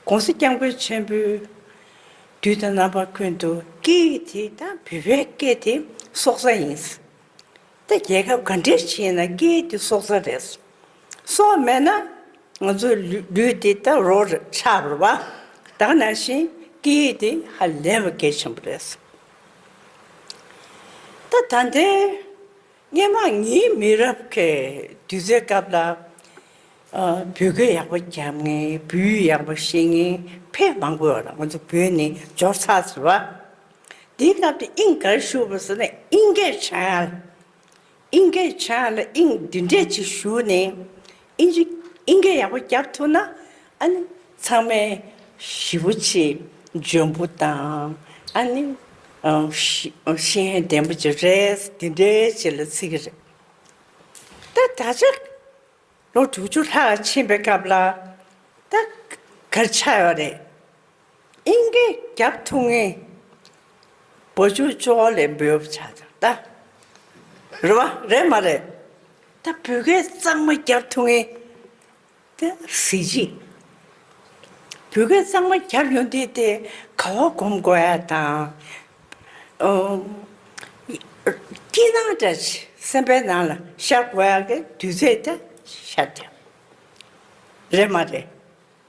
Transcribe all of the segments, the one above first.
ྋགོང་ས ྋསྐྱབས་མགོན་ཆེན་པོའི་དུས་དང་རྣམ་པ་ཀུན་ཏུ་སྐད་ཡིག་དེ་དང་བོད་པའི་སྐད་དེ་སྲོག་རྩ་ཡིན། ད་རྒྱལ་ཁབ་ག་འདྲའི་ཆེ་ན་སྐད་ཡིག་དེ་སྲོག་རྩ་རེད། སྲོག་མེད་ན་ང་ཚོའི་ལུས་དེ་ད་རོ་ཆགས་རུ་བ་དག་ནང་བཞིན་སྐད་ཡིག་དེ་ཧ་ལས་པ་གལ་ཆེན་པོ་རེད། ད་ད་ལྟའི་སྙན་ངག་ཉིད་མི་རབས་ཀྱི་དུས་ཚོད་སྐབས་ལ་བོད་སྐད་ཡག་པོ་རྒྱབ་ངེས་བུའུ་ཡག་པོ་ཤེས་ངེས་ཕས་མང་པོ་ཡོད་ལ་ང་ཚོ་བོད་ནི་འབྱོར་ཚགས་ཟེར་བ། དེའི་སྐབས་དེ་ཨིན་གར་བཞུགས་པ་ཟེར་ན་ཨིན་སྐད་བྱང་ཨ་ལ་ཨིན་སྐད་བྱང་ཨ་ལ་ཨིན་འདི་འདྲས་ཅིག་བཞུགས་ནས་ཨིན་སྐད་ཡག་པོ་རྒྱག་ཐུབ་ན་ཨ་ནི་ཚང་མས་ཞི་བོ་ཆེ་འཇོན་པོ་དང་ཨ་ནི་ཤེས་ཡོན་ལྡན་པོ་ཆེ་རེད་འདི་འདྲའི་ཆེད་ལ་ཚིག་གི་རེད། ད་ད་ཆ་ལོ་དྲུག་ཅུ་ལྷག་ཕྱིན་པའི་སྐབས་ལ་ད་གར་ཆགས་ཡོད་རེད། སྙིང་གའི་རྒྱབ་ཐུག་ངའི། བུ་ཆུ་ཅོག་ལས་འབུལ་བར་བྱ། ད་རེད་མ་རེད་མ་རེད། ད་བུ་གའི་གཙང་མ་རྒྱབ་ཐུག་ངའི། ད་གཟི་བརྗིད། བུ་གའི་གཙང་མ་རྒྱབ་ཡོང་དུས་དེ་ག་བ་སྒོམ་དགོས་ཡ་དང། སྐྱིད་སྣང་འདྲ་སེམས་པའི་ནང་ལ་ཤར་དགོས་ཡ་གི་དུས་ཚོད་ད་ཤར་རྒྱབ། རེད་མ་རེད།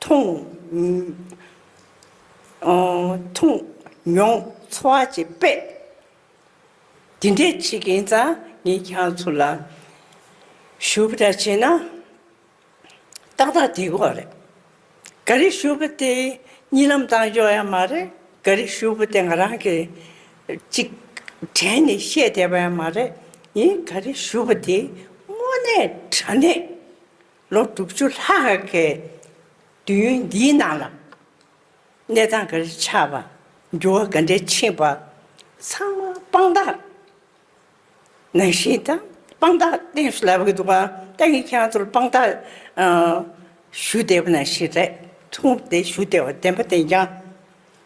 འཐུང། འཐུང། མྱོང། འཚོ་བ་བྱེད། དཔེ། འདི་འདྲས་བྱེད་མཁན་ཙང་ངས་ཁྱང་ཚོ་ལ། ཞུ་བ་འདྲ་བྱེད་ན། ཏག་ཏག་དེ་གོ་རེད། ག་རེ་ཞུ་བ་དེ་གཉིད་ལམ་བཏང་ཆོག་ཡང་མ་རེད་ག་རེ་ཞུ་བ་དེ་ང་རང་གི། ཅིག། དྲན་ནས་བཤད་བསྡད་པ་ཡང་མ་རེད་ཡིན་ག་རེ་ཞུ་བ་དེ་དངོས་གནས་དྲ་གནས། ལོ་དྲུག་ཅུ་ལྷག་གི་དུས་ཡུན་འདིའི་ནང་ལ། གནས་སྟངས་འགའ་རེ་ཆགས་པ། འགྱུར་བ་འགའ་འདྲའི་ཕྱིན་པ། ཚང་མ་དཔང་རྟགས་ནང་བཞིན་དང་དཔང་རྟགས་བསྟན་ཞུ་ལབ་ཡོད་འདུག་ཨ་ཏའི་ཡིག་ཆའང་ཚུར་དཔང་རྟགས་ཞུ་བསྡད་པ་ནང་བཞིན་རེད་འཁྲུངས་བསྡད་ཞུ་བསྡད་པ་བདེན་པ་བདེན་ཀྱང།